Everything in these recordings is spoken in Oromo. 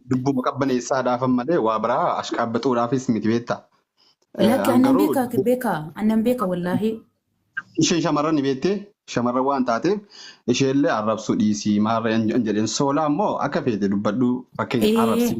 dubbuma qabbaneessaa dhaafan malee waa biraa ashqaabbaxuudhaafis miti beekta. Lakki annan beekaa beekaa annan beeka wallaahi. Isheen shamarran ni beektee shamarran waan taateef isheellee arrabsuu dhiisii maarree hin jedheen soolaa immoo akka feete dubbadhu fakkeenya arrabsii.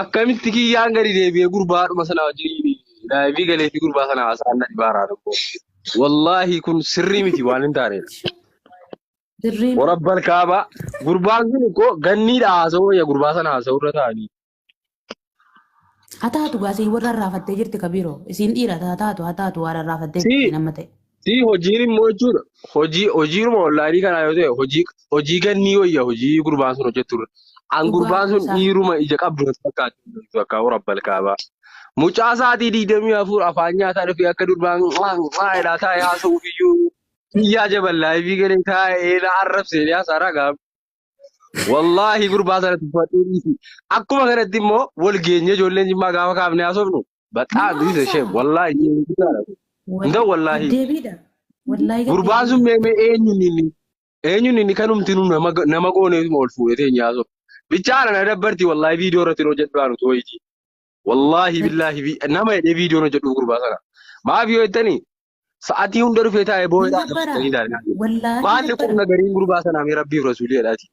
Akkamitti kiyyaan gadi deebi'ee gurbaa dhuma sana wajjin daa'imni galee fi gurbaa sana haasa'an na dhibaaraa tokko. Wallaahi kun sirrii miti waan hin taanedha. Dirreen Warabbal kaabaa gurbaan kun koo ganniidha haasa'uu ya gurbaa sana haasa'uu irra taa'anii. Haa taatu gaa siin warra irraafattee jirti ka biiroo. Isiin dhiira haa taatu haa taatu waan irraafattee Si jirti nama ta'e. si hojiin immoo jechuudha. Hojii hojiiruma onlaayinii kanaa yoo ta'e hojii hojii gannii wayya hojii gurbaan sun hojjetturra. An Dhugaa gurbaan sun isaa. dhiiruma ija qabdu natti fakkaatu akka warra balkaabaa. Mucaa sa'aatii digdamii afur afaan nyaataa dhufee akka durbaan qaa'elaa taa'ee haasa'uuf iyyuu biyyaa jaballaa fi galee taa'ee na arrabsee haasaa ragaa. Wallaahi gurbaa sana tuffadhee dhiisi. Akkuma kanatti immoo wal geenye ijoolleen jimmaa gaafa kaafnee haasofnu baxaa Nama dhiisa ishee haasa'u. wallaahi ishee guddaadha. Hin ta'u wallaahi. Gaddeebiidha. Wallaahi Gurbaan sun gaddeebiidha. meemee eenyuun inni eenyuun inni kanumti nu nama nama gooneetuma ol fuudhee teenyaa haasofnu. Bichaa na dabbarti wallaahi viidiyoo irratti hin hojjedhu anu tooyitii. Wallaahi Lakki. billaahi vi- nama hidhee viidiyoon hojjedhu gurbaa sana. Maaf yoo jettani Sa'atii hunda dhufee taa'ee boo'ee Hin dhaadha gabbara. fuudhanii daadhaa. Wallaahi Maalli gabbara. qubna gariin gurbaa sanaa mee rabbiif rasuulii jedhaati.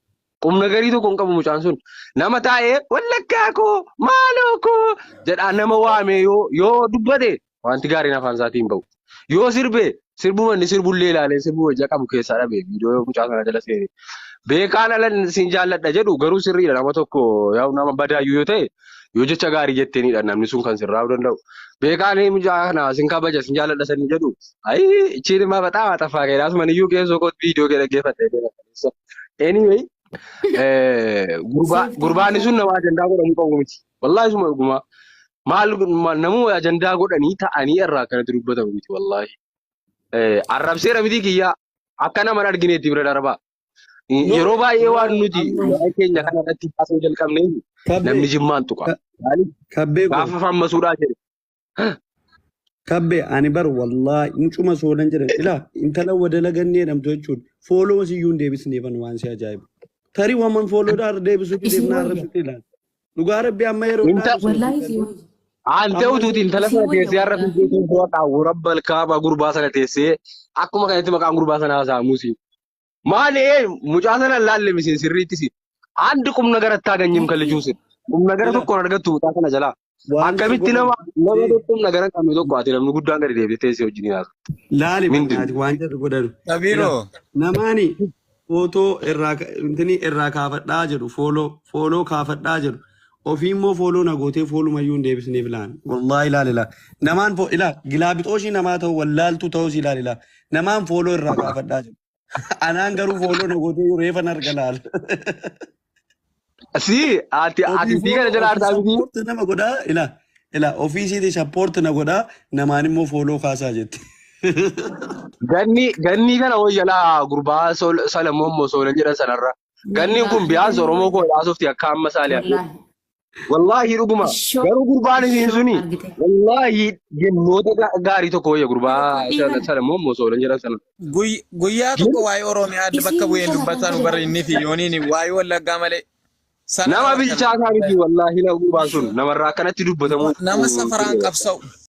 Qubna garii tokko hin qabu mucaan sun. Nama taa'ee wallaggaa koo maaloo koo jedhaa nama waamee yoo yoo dubbate wanti gaariin afaan isaatii hin ba'u. Yoo sirbe sirbuma inni sirbullee ilaalee sirbuma ija qabu keessaa dhabe viidiyoo mucaa sanaa jala seene. Beekaan ala siin jaalladha jedhu garuu sirriidha nama tokko yaa'u nama badaayyuu yoo ta'e Yoo jecha gaarii jetteenidha namni sun kan sirraa danda'u. Beekaa ni mucaa kana sin kabaja sin jaaladha sanii jedhu. Ayi ichiin immaa baxaa maaxaffaa keedha. Asuman iyyuu geessoo kootti viidiyoo kee dhaggeeffadhee beela. Anyway eh, gurbaa- Seeftii gurbaanni isaa. sun nama ajandaa godhamu qabu miti. Wallaahi suma dhugumaa. Maal ma- namuma ajandaa godhanii ta'anii irraa akkanatti dubbatamu miti wallaahi. Eh, Arrabseera miti kiyyaa akka nama hin argineetti bira darbaa. No, Yeroo baay'ee no, waan nuti amma waa'ee keenya kana irratti haasa'uu jalqabnee namni kabbee jimmaan tuqa. ka- Maaliif? kabbee koo Gaafa fammasuudhaa jedhe. kabbee ani bar wallaahi mucuma soolan jedhan ilaa intala wadala gannee jedhamtu jechuun fooloo siyyuu hin deebisneefan waan si ajaa'ibu. Tarii waman fooloodhaa irra deebisuu Isii dhideef naa wayya. arrabsitti ilaali. Dhugaa rabbi amma yeroo Inta ilaalu soofi Wallaahi isii gallee wayya. Aantee amma utuuti yeroo intala Isii sana wayya teessee har'a wallaahi. fiigdee tuubboo qaawwu rabbal kaabaa gurbaa sana teessee akkuma kanatti maqaan gurbaa sana haasa'amuusi. Maali ee mucaa sana laalle miseen sirriitti si. Andi qum nagara itti haganyim kan lijuu sin. Qum nagara Jira. tokko hin argattu mucaa sana jalaa. Waan isa Akkamitti nama godhan. nama Jee. tokko qum nagara hin qabne tokko ati namni guddaan gadi deebitee teessee wajjin hinaasa. Laali Mindin. bannaati waan jedhu godhan. Ila Sabiro. namaani footoo irraa ka- intini irraa kaafadhaa jedhu fooloo fooloo kaafadhaa jedhu ofii immoo fooloo na gootee foolumayyuu hin deebisneef laan wallaahi ilaali laa namaan foo ilaa gilaabixooshii namaa ta'u wallaaltuu ta'us ilaali laa Namaan fooloo irraa gaafadhaa jiru. Anaan garuu fooloo na godhuu reefan arga laala. Si ati ati fi kana jala artaa miti. Sappoorti nama godhaa ilaa ilaa ofiisiiti sappoorti na godhaa namaan immoo fooloo kaasaa jette. Ganni ganni kana hoyyala gurbaa Sol- Salamoon moo Soolan jedhan sanarra. Ganni kun biyaas Oromoo koo ilaasofti akka amma saali Wallaahi. Wallaahi dhuguma. Ishoo Garuu gurbaan isiin ishoo suni argite. wallaahi jennoota ga- gaarii tokko wayya gurbaa Yookaan sana dhiifan sana immoo osoo hin jedhan sana. Guy- Guyyaa tokko Jennu waa'ee Oromiyaa adda bakka isiin bu'een kana kan dubbataa nu godhe barri inni fi yooniin waa'ee wallaggaa malee sana nama nama kana bilchaataa miti wallaahi nama gurbaan sun namarraa akkanatti dubbatamuu nama safaraan qabsa'u.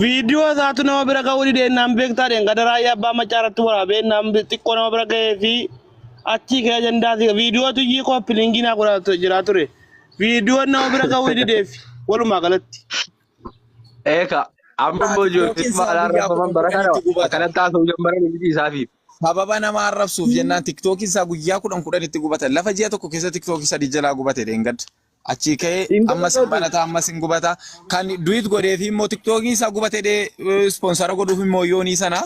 Viidiyoo isaatu nama bira ga'uu didee naan beektaa dheen gada raayyaa abbaa maccaa irratti waraabee naan bi- xiqqoo nama bira ga'ee fi achii ka'ee ajandaa si viidiyoo tuyyii kooppi liingii naa godhaa tu- jiraa ture. Viidiyoon nama bira ga'uu dideef walumaa galatti. Eeka amma immoo Ati ijoolleen yookiin maalaa saafii yaa rabbaman bara kana kudhanitti gubata. akkanatti haasa'u jammaran miti isaafiif. Sababa nama arrabsuuf jennaan tiktookiin isaa guyyaa kudhan kudhanitti gubata. Lafa ji'a tokko keessa tiktookii sadii jalaa gubate dheengadda. Achii ka'ee Hin ammas hin gubatu. banata ammas hin gubata. Kan duit godhee fi immoo tiktookii isaa gubate dhee ispoonsara godhuuf immoo yoonii sana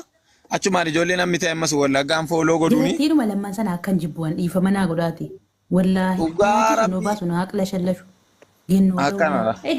achumaan ijoollee namni ta'e ammas wallaggaan fooloo godhuuni. Dubartiidhuma lamman sana akkan jibbu an dhiifama naa godhaati. Wallaahi. Dhugaa Maatii kan nuu rabbii. baasu naa haqlashallashu. Gennuu ta'uu Akkanadha. Eh,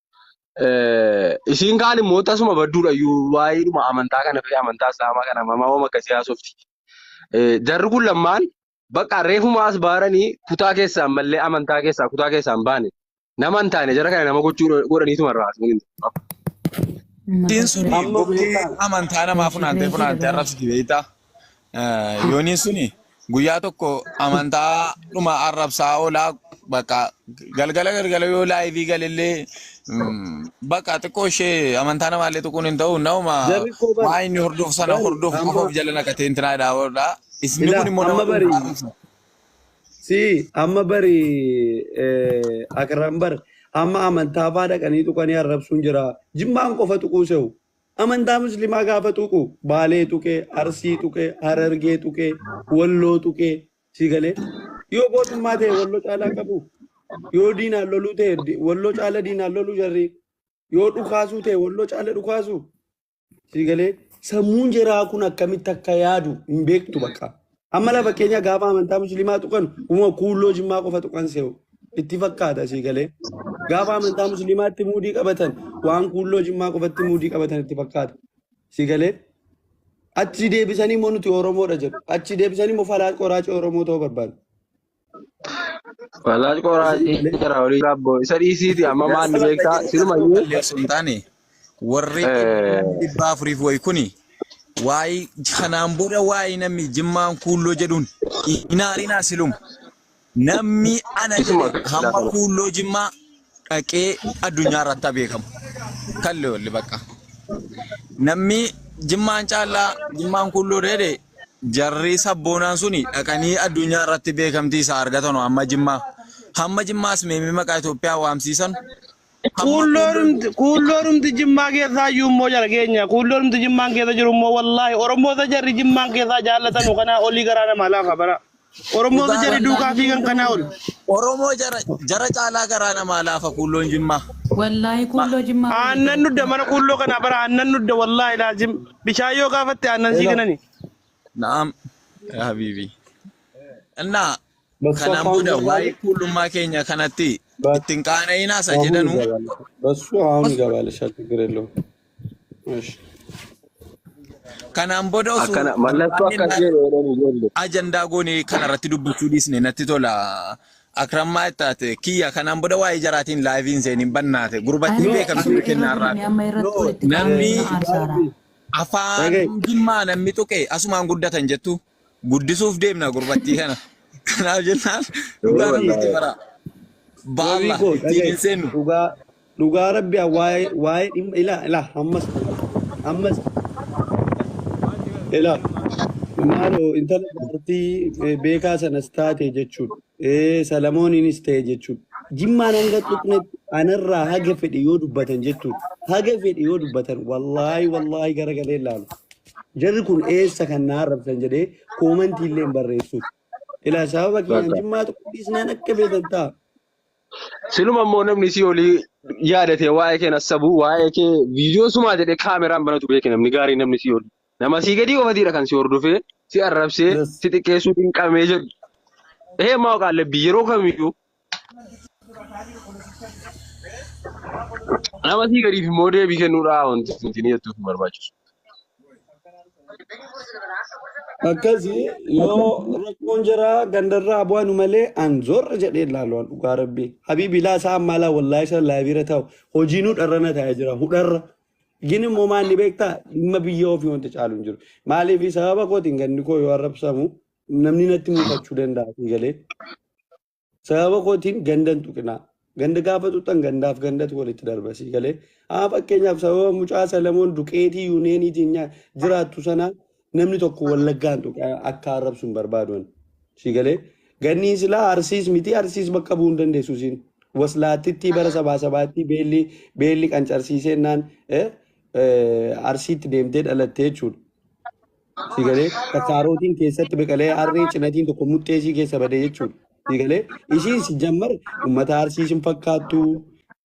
Isiin kaan immoo tasuma badduudha iyyuu waa'eedhuma amantaa kana fi amantaa islaamaa kana mamaa hooma akkasii haasofti. Jarri kun lammaan bakka reefuma as baaranii kutaa keessaan mallee amantaa keessaa kutaa keessaan baane nama hin taane jara kana nama gochuu godhaniituma irraa haasofni. Diin sun Amma murtii beektaan. amantaa namaa funaantee funaantee arrabsiti beektaa? Eh, Yooniin suni guyyaa tokko amantaa dhuma arrabsaa oolaa bakka galgala galgala yoo laayivii galellee mm, bakka xiqqoo ishee amantaa namaallee tuquun hin ta'u nama Jarri koo bar waa inni hordofu sana bar hordofu qofa amma of jala naqatee intinaa dhaa'oodha. Isni kun ilaa immoo nama amma bari dhuunfaa arrabsa. si amma bari eh, akram bar amma amantaa faa dhaqanii tuqanii arrabsuun jira jimmaan qofa tuquu sehu Amantaa muslimaa gaafa tuqu baalee tuqee, arsii tuqee, harargee tuqee, walloo tuqee si galee. Yoo gootummaa ta'e walloo caalaa qabu. Yoo diinaan loluu ta'e di- walloo caala diinaan loluu jarri. Yoo dhukaasuu ta'e walloo caala dhukaasu si galee. Sammuun jaraa kun akkamitti akka yaadu hin beektu bakka. Amma lafa keenya gaafa amantaa musliimaa tuqan uma kuulloo jimmaa qofa tuqan see'u. Itti fakkaata sii galee. Gaafa amantaa musliimaatti muudii qabatan waan kuulloo jimmaa qofatti muudii qabatan itti fakkaata. Sii galee. Achi deebisanii immoo nuti Oromoodha jedhu. Achi deebisanii immoo falaa qoraacii Oromoo ta'uu barbaadu. Wallaahi Isii qoraatee malee jira olii rabboo isa dhiisiiti amma yaa maanni salaata beektaa jedhee kana nama silumayyuu balleessu hin taane warri eh, namni dhibba afuriif wayi kuni waa'ee kanaan booda waa'ee namni jimmaan kuulloo jedhuun hin haarinaa siluma namni ana isuma jedhe hamma kuulloo jimmaa dhaqee addunyaa irratti beekamu. Kalli olli bakka. Namni jimmaan caalaa jimmaan kulloo dheedhe jarri sabboonaan suni dhaqanii addunyaa irratti beekamtii isaa argatanu amma jimmaa. Hamma jimmaas meemii maqaa Itoophiyaa waamsiisan. Kuulloorumti jimmaa keessaa iyyuu immoo jara keenya. Kuulloorumti jimmaan keessa jiru immoo wallaahi Oromoota jarri jimmaan keessaa jaallatanu kanaa olii garaa namaa laafa bara. Oromoo Dhugaa jari rabbi. duukaa fiigan kanaa ol. Oromoo jara jara caalaa garaa namaa laafa kuulloon jimmaa. Wallaahi kuulloo jimmaa waliin Aannan jira. nudda mana kuulloo kanaa bara aannan nudda wallaahi laazim. Bishaan yoo gaafatte aannan sii kenani. Na'am yaa habiibi. Innaa Bas kanaan afaan booda gabaabaa. waa'ee kuullummaa keenya kanatti Bas ittiin qaana'inaa isa jedhanu Basuu haun gabaale shatti gireloo. Ish. Kanaan booda osoo Akkana mallattoo barbaanne akkas jedhu jedhan ijoollee. ajandaa goone kana irratti dubbachuu dhiisne natti tola. Akrammaa itti taate kiyya kanaan booda waa'ee jaraatiin laayiviin seeniin bannaate gurbattiin Aree beekamtu isin beekennaa irra irraa guddanne amma irratti No, walitti qabamee namni nama aarsaara. Gaabbii. afaan Dhaga'i. jimmaa namni tuqe asumaan guddatan jettu Guddisuuf deemna gurbattii kana. Kanaaf jennaan dhugaa namni itti baraa. Ba'alla ittiin hin seennu. Dhugaa dhugaa rabbi waa'ee waa'ee dhimma ilaa ilaa ammas ammas ilaa maaloo intala dubartii beekaa sanas taate jechuudha. Ee, Salamooniinis ta'e jechuudha. Jimmaan hanga tuqnetti anarraa haga fedhe yoo dubbatan jechuudha. Haga fedhe yoo dubbatan wallaahi wallaahi gara galee ilaalu. Jarri kun eessa kan na arrabsan jedhee koomantii illee hin barreessuuf. Ilaa sababa kiyyaan Bakka. jimmaa tuquu dhiisnaan akka beetan ta'a. Siluma immoo namni isii olii yaadate waa'ee kee nassabu waa'ee kee viidiyoo sumaa jedhee kaameraan banatu beeke namni gaarii namni isii olii. Nama asii gadii qofatiidha kan si hordofee, si arrabsee, Yes. si xiqqeessuu dinqamee jedhu. Ehee maa qaallabbii yeroo kamiyyuu nama asii gadiif immoo deebii kennuudhaa wanti nuti ni jettuuf hin barbaachisu. Akkasi yoo rakkoon jiraa gandarraa bu'anu malee an zorra jedhee ilaalu an dhugaa rabbii. Habiibi ilaa isaa ammaa ilaa wallaahi isaa laabiira taa'u hojii nu dharrana taa'ee jira hudharra. Gin immoo maal ni beektaa dhimma biyya ofii wanta caalu hin jiru. Maaliif sababa kootiin ganni koo yoo arrabsamu namni natti mul'achuu danda'a sii galee. Sababa kootiin ganda hin tuqinaa. Ganda gaafa tuqxan gandaaf gandatu walitti darba sii galee. Haa fakkeenyaaf sababa mucaa Salamoon duqeetii yuuniyeeniitiin nyaa- jiraattu sana namni tokko wallaggaan tuqe akka arrabsu hin barbaadu ani. Si galee ganniin silaa arsiis miti arsiis bakka bu'uu hin dandeessu siin. Waslaattitti bara Ahaa. sabaa sabaatti beelli beelli qancarsiisee naan eh, eh, arsiitti deemtee dhalattee jechuudha. Si galee kasaarootiin keessatti biqilee harree cinatiin tokko muxxeesii keessa badee jechuudha. Si galee ishiin si jammar uummata arsiis hin fakkaattu.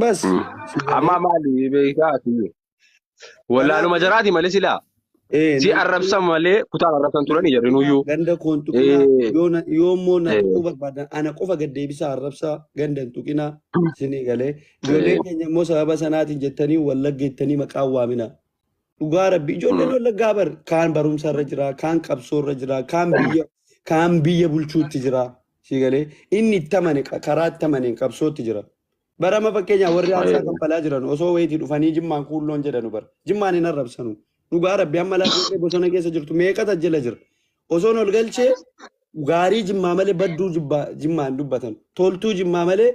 Bas. Amma maali beekaa ati? Wallaaluma jaraati malee silaa. Si arrabsan malee kutaan arrabsan turanii jarri nuyyuu. Ganda koon tuqinaa yoo immoo na tuquu barbaadan ana qofa gad deebisaa arrabsaa ganda hin tuqinaa isinii galee. Ijoollee keenya immoo sababa sanaatiin jettanii wallagga jettanii maqaa waamina. Dhugaa rabbi ijoolleen wallaggaa bar kaan barumsa irra jira kaan qabsoo irra jira kaan biyya kaan biyya bulchuutti jira. Sii galee inni itti amane qa- karaa itti amaneen qabsootti jira. Bara amma fakkeenyaa warri aarsaa Baay'ee. kaffalaa jiran osoo wayitii dhufanii jimmaan kuulloon jedhanu bara. Jimmaan hin arrabsanu. Dhugaa rabbi amma laafee bosona keessa jirtu meeqa tajjila jira. Osoon ol galchee gaarii jimmaa malee badduu jibbaa- jimmaa hin dubbatan. Toltuu jimmaa malee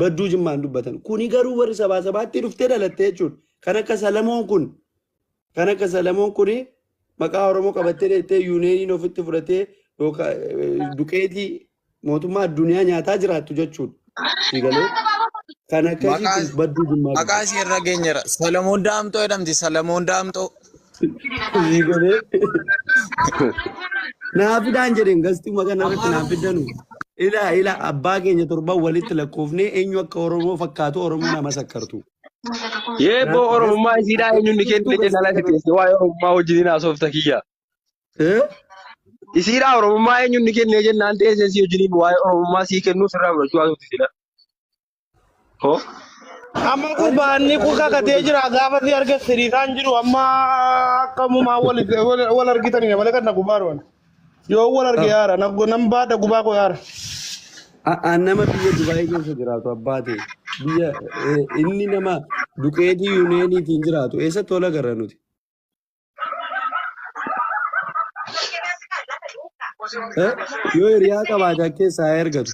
badduu jimmaa hin dubbatan. Kuni garuu warri sabaa sabaatti dhuftee dhalatte jechuudha. Kan akka Salamoon kun Kan akka Salamoon kun maqaa Oromoo qabattee dheettee yuuniyeeniin ofitti fudhatee yookaan eh, duqeetii mootummaa addunyaa nyaataa jiraattu jechuudha. Si galee kan akkasii Maqaa kun badduu jimmaa maqaa qabdi. ishee irra geenyera. Salamoon Daamxoo jedhamti. Salamoon Daamxoo. Si galee naaf fidaan jedheen gastii maqaa narratti naaf fidanu. Ilaa ilaa abbaa keenya torban walitti lakkoofnee eenyu akka Oromoo fakkaatu Oromoo nama sakkartu. Yee boo oromummaa isiidhaa eenyuun ni kennine jennaan asi teesse waa'ee oromummaa wajjin hin haasofta kiyya. Isiidhaa oromummaa eenyuun ni kennine jennaan teessee si wajjin waa'ee oromummaa sii kennuu sirraa fudhachuu haasofti sila. Hoo? Amma gurbaanni kun kakatee jira gaafa si arge siriisaan jiru amma akkamumaa wal wal argitanii malee kan na gubbaa dhuwan. Yoo wal arge Of. yaara nan nan baadha gubaa koo yaara. A- a- nama biyya Dubaayii keessa jiraatu abbaa ta'e biyya eh, inni nama duqeetii yuuniyeeniitiin jiraatu eessatti wal agarra nuti Eh, yoo hiriyaa qabaate akka keessaa haa ergatu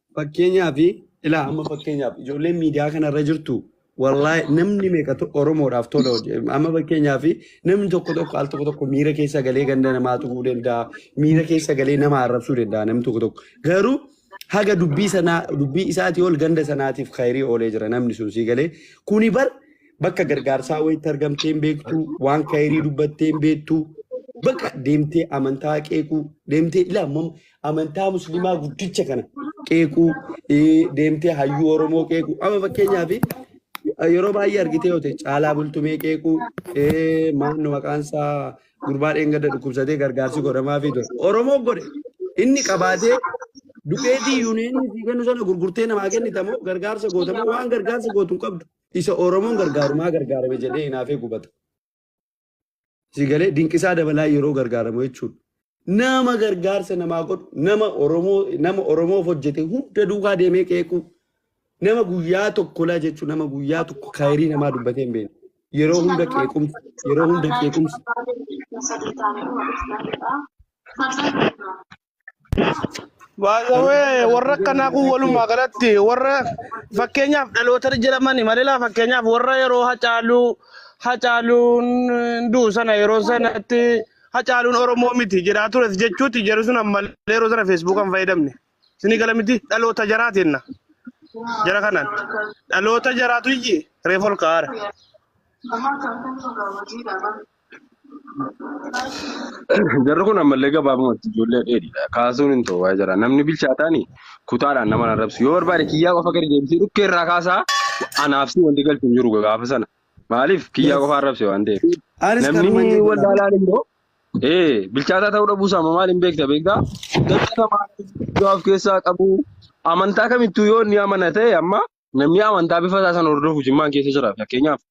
Fakkeenyaaf ilaa amma fakkeenyaaf ijoolleen miidiyaa kanarra jirtu wallaahi namni meeqa to- Oromoodhaaf tola hojje amma fakkeenyaaf namni tokko tokko al tokko tokko miira keessa galee ganda namaa tuquu danda'a miira keessa galee nama arrabsuu danda'a namni tokko tokko garuu haga dubbii sanaa dubbii isaatii ol ganda sanaatiif khayrii oolee jira namni sun sii galee kuni bar bakka gargaarsaa wayitti argamtee hin beektu waan khayrii dubbattee hin beektu bakka deemtee amantaa qeequu deemtee ilaa amantaa musliimaa guddicha kana qeequu eh, deemtee hayyuu oromoo qeequu amma fakkeenyaaf yeroo baay'ee argitee yoo ta'e caalaa bultumee qeequu eh, maannu maqaan isaa gurbaa dheengadda dhukkubsatee gargaarsi godhamaafii ture oromoo godhe inni qabaatee duqeetii yuuniyeeniin sii kennu sana gurgurtee namaa kennitamoo gargaarsa gootamoo waan gargaarsa gootu hin qabdu isa oromoon gargaarumaa gargaarame jedhee hinaafee gubata. Si galee dinqisaa dabalaa yeroo gargaaramu jechuudha. Nama gargaarsa namaa godhu, nama Oromoo, nama Oromoof hojjete hunda duukaa deemee qeequu, nama guyyaa tokko laa jechuun nama guyyaa tokko kaayirii namaa dubbatee hin beekne. Yeroo hunda qeequmsa, yeroo hunda qeequmsa. Sadii taanee dhuma dhufnaa jedhaa. Kan sana irraa. Baay'ee warra akkanaa kun walumaa galatti warra fakkeenyaaf dhaloota jedhamani malilaa fakkeenyaaf warra yeroo hacaaluu hacaaluun du'u sana yeroo sanatti hacaaluun Oromoo miti jedhaa tures jechuuti jedhu sun ammallee yeroo sana feesbuukaan fayyadamne. Isinii gala miti dhaloota jaraa jenna jara kanaan dhaloota jaraatu iyyi reefu ol ka'aara. Jarri kun ammallee gabaabumatti ijoollee dheedhiidha. Kaasuun hin ta'u waa'ee jara. Namni bilchaataani kutaadhaan nama hin arrabsu. Yoo barbaade kiyyaa qofa gadi deebisee dhukkee irraa kaasaa anaaf si wanti galchu hin jiru gaafa sana. Maaliif kiyyaa Yes. qofa arrabse waan ta'eef. Anis Namni kanuman jedhu wal laata. laalaan immoo ee bilchaataa ta'uu dhabuu isaa maal hin beekta beektaa? Dachaa namaa guddaa of keessaa qabu amantaa kamittuu yoo inni amana ta'e amma namni amantaa bifa isaa sana hordofu jimmaan keessa jira fakkeenyaaf.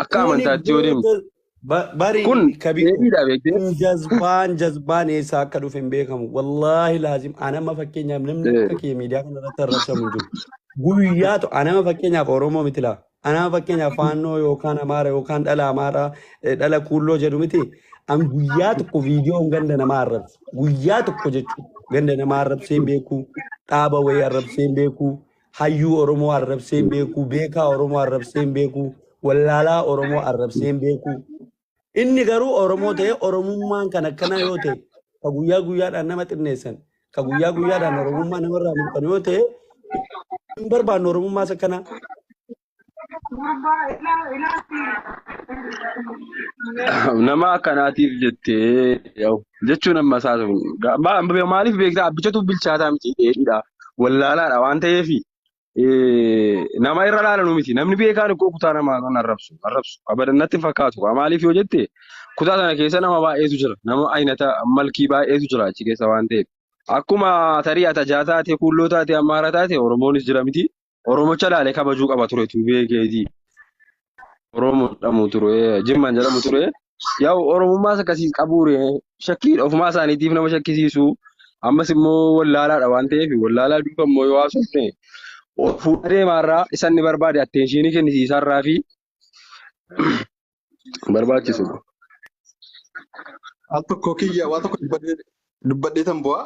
Akka Kuni amantaatti yoo deemtu. booda ba- bari Kun kabiku deebiidha beektee. kun jazbaan jazbaan eessaa akka dhufe hin beekamu wallaahi laazim anama fakkeenyaaf namni akka kee miidiyaa kana irratti arrabsamu hin jiru guyyaa to anama fakkeenyaaf oromoo miti laa anama fakkeenyaaf faannoo yookaan amaara yookaan dhala amaaraa eh, dhala kuulloo jedhu miti an guyyaa tokko viidiyoon ganda namaa arrabse guyyaa tokko jechuudha ganda namaa arrabsee hin beeku dhaaba wayii arrabsee hin beeku hayyuu Oromoo arrabsee hin beeku, beekaa Oromoo arrabsee hin beeku, wallaalaa Oromoo arrabsee hin beeku. Inni garuu Oromoo ta'ee Oromummaan kan akkanaa yoo ta'e, ka guyyaa guyyaadhaan nama xinneessan, ka guyyaa guyyaadhaan Oromummaa namarraa mulqan yoo ta'e, hin barbaannu Oromummaas akkanaa. nama akkanaatiif jettee yaa'u jechuun amma isaa maaliif beektaa abbichatu bilchaataa miti dheedhiidha wallaalaadha waan ta'eef nama irra laalanuu miti namni beekaan koo kutaa namaa kan arrabsu arrabsu abadannatti hin fakkaatu Kaa maaliif yoo jette kutaa sana keessa nama baay'eetu jira nama aynata malkii baay'eetu jira achi keessa waan ta'eef akkuma tarii atajaa taate kuulloo taate ammaara taate oromoonis jira miti Oromocha laale kabajuu qaba ture tuubee keetii. Oromoo jedhamu ture, Jimmaan jedhamu ture. Yaa'u Oromummaas akkasii qabuure shakkii ofumaa isaaniitiif nama shakkisiisu. Ammas immoo wallaalaadha waan ta'eef wallaalaa duuka immoo yoo haasofne ol fuudhee deemaarraa isa inni barbaade atteenshiinii kennisiisaarraa fi barbaachisu. Al tokko kiyya waa tokko dubbadhee dubbadhee tan bu'aa.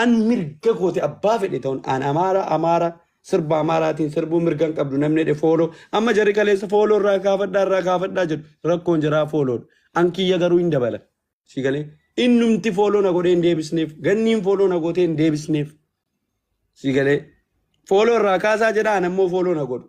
An mirga kooti abbaa fedhe ta'un an amaara amaara sirba amaaraatiin sirbuu mirgan qabdu namni jedhe fooloo amma jarri kaleessa fooloo irraa kaafadhaa irraa kaafadhaa jedhu rakkoon jaraa fooloodha an kiyya garuu hin dabala si galee innumti fooloo na godhee hin deebisneef ganniin fooloo na gootee hin deebisneef si galee fooloo irraa kaasaa jedha an ammoo fooloo na godhu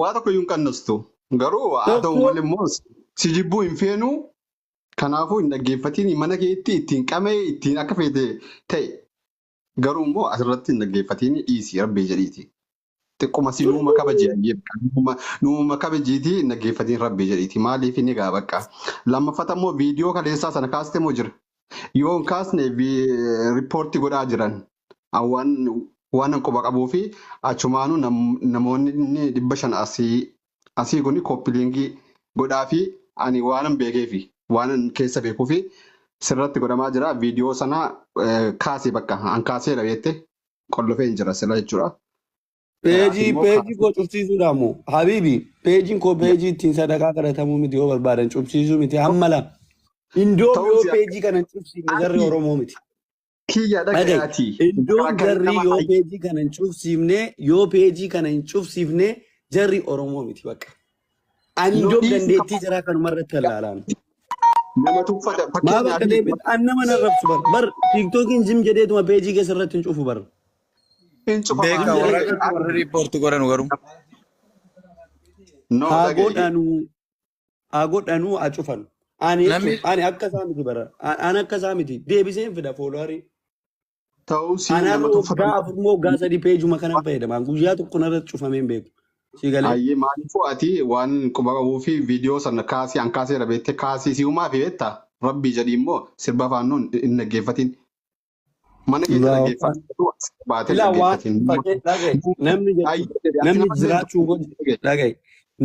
Waa tokko iyyuu hin qannastu. Garuu haa ta'u Tokko malee immoo si jibbuu hin feenu. Kanaafuu hin dhaggeeffatiin mana keetti ittiin qama'ee ittiin akka feete ta'e. Garuu immoo asirratti hin dhaggeeffatiin dhiisi rabbii jedhiiti. Xiqquma si nuuma kabaji ayyee bakka nuuma nuuma kabajiiti hin dhaggeeffatiin rabbii jedhiiti. Maaliif inni egaa bakka. Lammaffata immoo viidiyoo kaleessaa sana kaaste moo jira? Yoo hin kaasne riippoortii godhaa jiran. An waanan quba qabuufi achumaanuu namoonni dhibba shan asii kun kooppiliinkii godhaafi ani waanan beekeefi waanan keessa beekuufi sirratti godhamaa jira viidiyoo sana kaasi bakka an kaaseera beette qollofeen jira sila jechuudha. Peejii peejii koo cufsiisuudhaan moo habiibi peejiin koo peejii ittiin sadaqaa kadhatamuu miti yoo barbaadan cufsiisuu miti hammala indoo yoo peejii kana cufsiifne zarri Oromoo miti. Kiyya dhaqe Dhaga'i. ati. Iddoon Akkanatti jarri nama yoo hayyu. peejii kana hin cufsiifne yoo peejii kana hin cufsiifne jarri Oromoo miti bakka. Ani No iddoon dhiisi dandeettii jaraa kanuma irratti kan laalaan. Nama tuffata. Maa Fakkeenyaaf bakka deebit an nama nan rabsu bar bar tiiktookiin jim jedheetuma peejii keessa irratti hin cufu bar hin cufamaa Beeka Jim warra jedhee. dhaqu warra riippoorti godhanu garuu. No haa dhaga'i. godhanu haa godhanuu haa cufanu. Ani jechuun Namni ani akka isaa miti bara. An- Ani akka isaa miti. Deebiseen fida fooloorii. ta'uu si Ani har'a nama waggaa tuffatamuu afur moo waggaa sadii peejuma kanan fayyadama. An Guyyaa tokko narratti cufamee hin beeku. Si galee? Ayyee maaliifuu ati waan quba qabuu fi viidiyoo sana kaasii an kaaseera beektee kaasii si'umaa fi beektaa rabbii jedhii immoo sirba faannoon hin dhaggeeffatiin. Mana keessa Allahu akbar. dhageeffadhu as baatee Ilaa waan dhaggeeffatiin. fakkee dhagaye namni jechuudha. Ayyee jedhe ati Namni nama illee jiraachuu koo jib- dhaggeeffadhu. dhagaye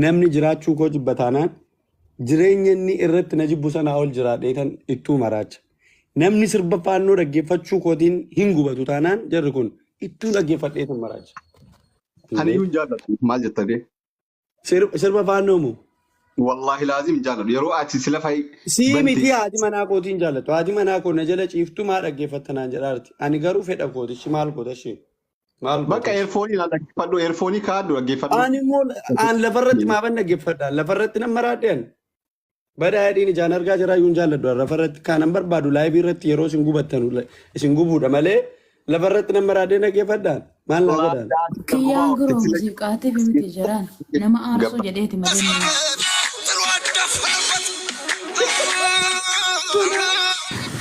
namni jiraachuu koo jibba taanaan jireenya inni irratti na jibbu sanaa ol jiraadhee tan ittuu maraacha. Namni sirba faannoo dhaggeeffachuu kootiin hin gubatu taanaan jarri kun ittuu dhaggeeffadhee tan maraacha. Ani Illee iyyuu hin jaalladhu maal jettanii? Sir- Sirba faannoo moo? Wallaahi laazim jaaladhu. Yeroo ati sila fa'i Sii bante miti haati manaa kootiin jaallattu. Haati manaa koo na jala ciiftu maa dhaggeeffatta naan jedhaarti. Ani garuu fedha kooti. Ishi maal goota ishee? Maal goota bakka ishee? eerfoonii na dhaggeeffadhu. Eerfoonii kaa'adhu dhaggeeffadhu. Ani immoo aan lafarratti maaban dhaggeeffadha. Lafarratti nan maraadhe ani. Badaa hidhiin ijaan argaa jiraa yuun jaalladhu lafa irratti kaanan barbaadu laayivii irratti yeroo isin gubattan isin gubuudha malee lafa irratti nama raadee dhaggeeffadhaan maal naa godhaan. Kiyyaan guroo muuziqaatiif miti jiraan nama aarsuu jedheeti malee nama. Thank you.